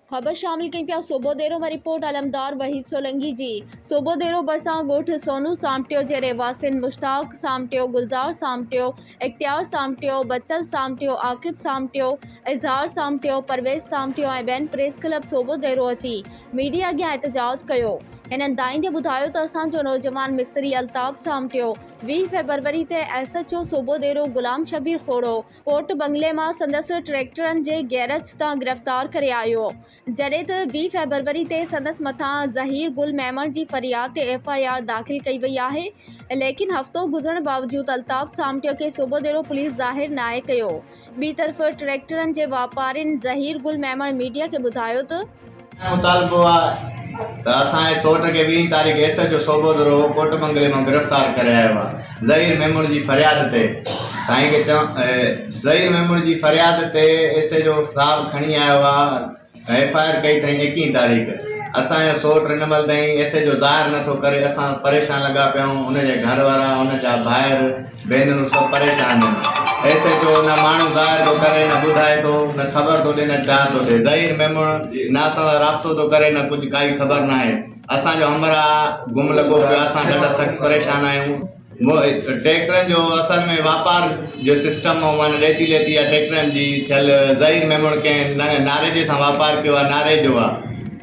خبر شامل ڪيون پيا صوبو ديرو مان رپورٽ علمدار وحيد سولنگي جي صوبو ديرو ڀرسان ڳوٺ سونو سامٽيو جي رهواسين مشتاق سامٽيو گلزار سامٽيو اختيار سامٽيو بچل سامٽيو عاقب سامٽيو اظهار سامٽيو پرويز سامٽيو ۽ ٻين پريس ڪلب صوبو ديرو اچي ميڊيا اڳيان احتجاج ڪيو هنن دائيندي ٻڌايو ته اسان جو نوجوان مستري الطاف سامٽيو ويهه فيبروري تي S H O Sobho Dero Ghulam Shabbir کوڙو ڪورٽ بنگلي مان سندس ٽريڪٽرن جي گيريج تان گرفتار ڪري آيو هو، جڏهن ته ويهه فيبروري تي سندس مٿان ظهير گل ميمڻ جي فرياد تي ايف آء آر داخل ڪئي وئي آهي، ليڪن هفتو گذرڻ باوجود الطاف سامٽيو کي صوبو ديرو پوليس ظاهر ناهي ڪيو، ٻي طرف ٽريڪٽرن جي واپارين ظهير گل ميمڻ ميڊيا کي ٻڌايو ته. مطالبو آهي ته اسان جي سوٽ کي ويهه تاريخ S H O Sobho Dero ڪوٽ بنگلي مان گرفتار ڪري آيو آهي ظهير ميمڻ جي فرياد تي سائين کي چون ظهير ميمڻ جي فرياد تي ايس ايڇ او صاحب کڻي آيو آهي ايف آء آر ڪئي اٿائين ايڪيهين تاريخ اسان جو سوٽ هن مهل تائين ايس ايڇ او ظاهر نٿو ڪري اسان پريشان لڳا پيا آهيون ان جي گهر وارا ان جا ڀائر ڀينرون سڀ پريشان هين. ايس ايڇ او نه ماڻهو ظاهر ٿو ڪري، نه ٻڌائي ٿو، نه خبر ٿو ڏي، نه چاهه ٿو ڏي. ظهير ميمڻ نه اسان سان رابطو ٿو ڪري، نه ڪجهه ڪائي خبر ناهي. اسان جو همراهه گم لڳو پيو آهي، اسان ڏاڍا سخت پريشان آهيون. ٽيڪرن جو اصل ۾ واپار جو سسٽم هو، معنيٰ ڏيتي ليتي آهي ٽيڪرن جي ٿيل. ظهير ميمڻ ڪنهن ناريجي سان واپار ڪيو آهي، ناريجو آهي.